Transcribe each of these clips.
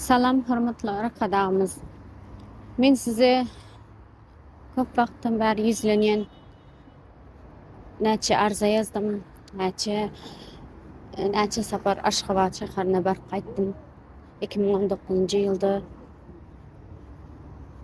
Salam hormatly arkadagymyz. Men size köp wagtdan bäri ýüzlenýän näçe arza ýazdym, näçe näçe sapar Aşgabat şäherine baryp gaýtdym. 2019-njy ýylda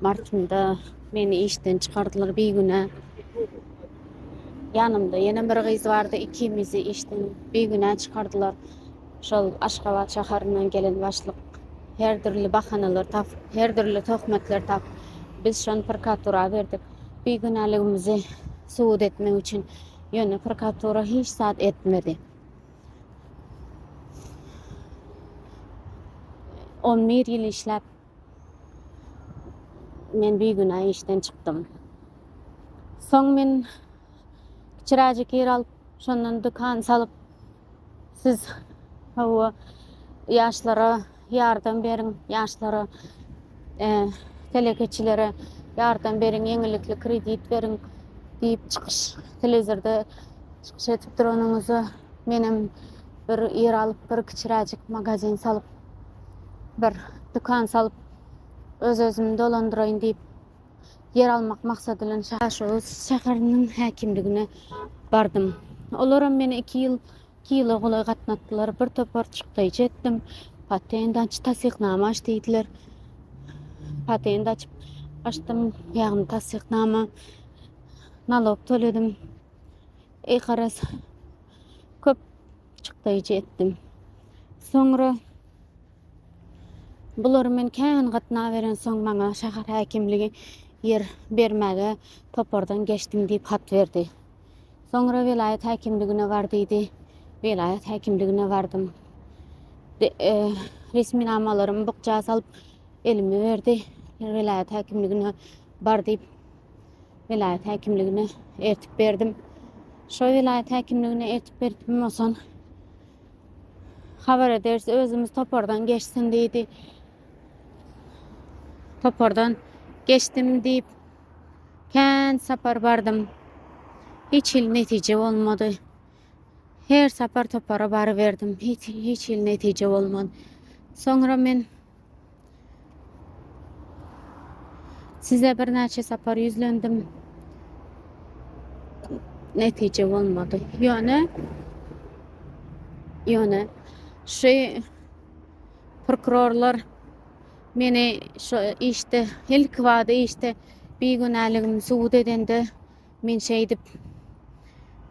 martynda meni işden çykardylar bigüne. Ýanymda ýene bir gyz bardy, ikimizi işden bigüne çykardylar. Şol Aşgabat şaharyndan gelen başlyk her dürli bahanalar tapyp, her dürli töhmetler tapyp, biz şony prokuratura berdik. Bigünäligimizi subut etmek üçin. Ýöne prokuratura hiç zat etmedi. On bir ýyl işläp, men bigünä işden çykdym. Soň men Kiraje kir alyp, şondan dükan salyp, siz hawa ýaşlara ýardam beriň, ýaşlara e, telekeçilere ýardam beriň, ýeňillikli kredit beriň diýip çykyş telewizorda çykyş edip duranyňyzda menem bir ýer alyp, bir kiçiräjik magazin salyp, bir dükan salyp, öz-özümi dolandyraýyn diýip ýer almak maksady bilen Daşoguz şäheriniň häkimligine bardym. Olaram meni iki ýyl iki ýyla golaý gatnatdylar. Bir topar çykdaýjy etdim. Patent aç, tassyknama aç diýdiler. Patent açyp açdym, ýagny tassyknama nalog töledim. Eý garaz, köp çykdaýjy etdim. Soňra Bulary men kän gatnaberensoň, maňa şäher häkimligi ýer bermäge topardan geçdim diýip hat berdi. Soňra welaýat häkimligine bar diýdi. Welaýat häkimligine bardym. Resminamalarymy bukja salyp, elime berdi. Welaýat häkimligine bar diýip, welaýat häkimligine eltip berdim. Şo welaýat häkimligine eltip berdim, onsoň Habar ederis, özümiz topardan geçsin diýdi. Topardan geçdim diýip, kän sapar bardym. Hiç hil netije bolmady. Her sapar topara baryberdim. Hiç, hiç hil netije bolmady. Soňra men Size birnäçe sapar ýüzlendim. Netije bolmady. Ýöne ýöne şu prokurorlar meni şu işde ilki bada işde bigünäligimi subut edende Men şeýdip,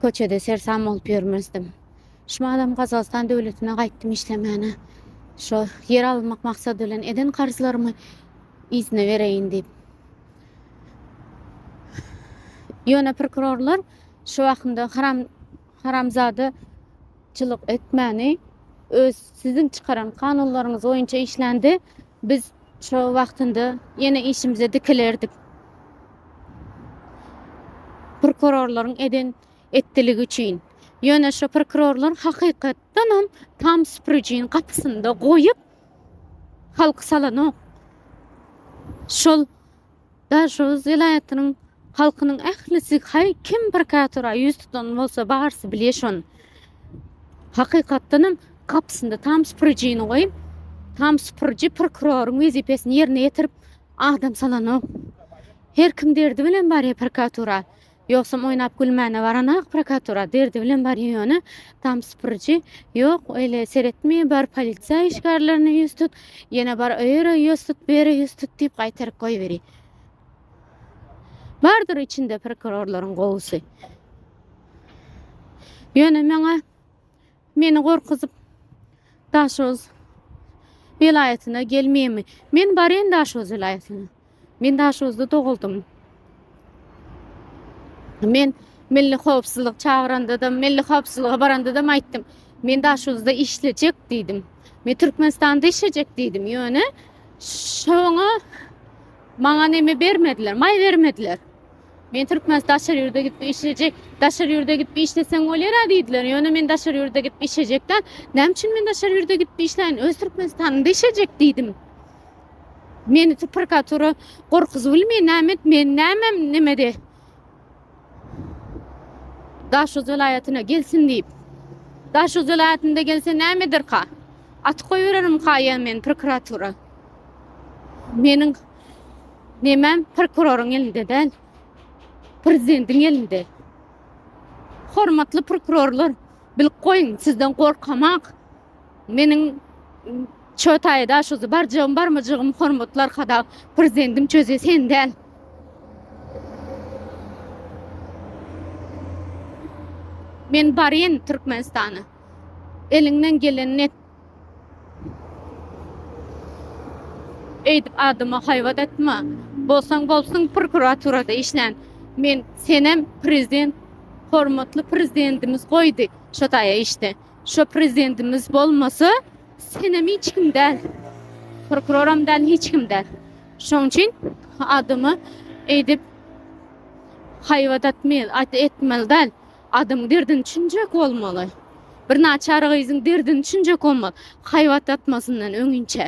köçede sersam bolup ýörmezdim. Şumadam Gazagystan döwletine gaýtdym işlemäne. Şo ýer almak maksady bilen eden karzlarymy yzyna bereýin diýip. Ýöne prokurorlar şu wagtynda haram haramzada Çylyk etmäni öz siziň çykaran kanunlaryňyz boýunça işlände biz şo wagtynda ýene işimize dikilerdik. Prokurorlaryň eden etdiligi üçin. Ýöne şo prokurorlar hakykatdan hem tam süpürijiniň gapysynda goýup halky salanok. Şol Daşoguz welaýatynyň halkynyň ählisi haý kim bir kätora ýüz tutan bolsa barsy bilýä şony. Hakykatdanam gapysynda tam süpürijini goýup, tam süpüriji prokuroryň wezipesini ýerine ýetirip adam salanok. Her kim derdi bilen barýa prkatura. Ýogsam oýnap gülmäne baranak prokuratura derdi bilen barýa ýöne tam sypyryjy ýok öýle seretme bar polisiýa işgärlerine ýüz tut ýene bar öýere ýüz tut bere ýüz tut diýip gaýtaryp goýberi. Bardyr içinde prokurorlaryň gowusy. Ýöne meňe Meni gorkuzyp Daşoguz welaýatyna gelmemi. Men barýan Daşoguz welaýatyna. Men Daşoguzda doguldym. Men milli howpsuzlyk çagyranda-da, milli howpsuzlyga baranda-da aýtdym. Men Daşoguzda işlejek diýdim. Men Türkmenistanda işlejek diýdim. Ýöne şoňa maňa neme bermediler, maý bermediler. Men Türkmenistan daşary ýurda gidip işlejek. Daşary ýurda gidip işleseň bolýar-a diýdiler. Ýöne men daşary ýurda gidip işlejek däl. Näme üçin men daşary ýurda gidip işläýin? Öz Türkmenistanymda işlejek diýdim. Meni tu prokuratura gorkuzyp bilmeýär. Näme et, men nämem nemede? Daşoguz welaýatyna gelsin diýip. Daşoguz welaýatynda gelse näme ederka? Atyp goýbererimka ýa men prokuratura? Meniň Nemem prokuroryň elinde däl. Prezidentiň elinde. Hormatly prokurorlar, bilip goýuň, sizden gorkamak. Meniň Çötaýy da şu barjygym barmajygym hormatly arkada prezidentim çöze sen däl. Men baryn Türkmenistana. Eliňden gelenini et. Eýdip adama haýbat atma. Bolsaň bolsun prokuraturada işlän. Men senem prezident hormatly prezidentimiz goýdy şo taýa işde. Şo prezidentimiz bolmasa senem hiç kim däl. Prokuroram däl hiç kim däl. Şoň üçin adama eýdip haýbat atmyl at etmeli däl. Adyň derdini çünjek bolmaly. Bir naçar gyzyň derdini çünjek bolmaly. Haýbat atmasyndan öňinçä.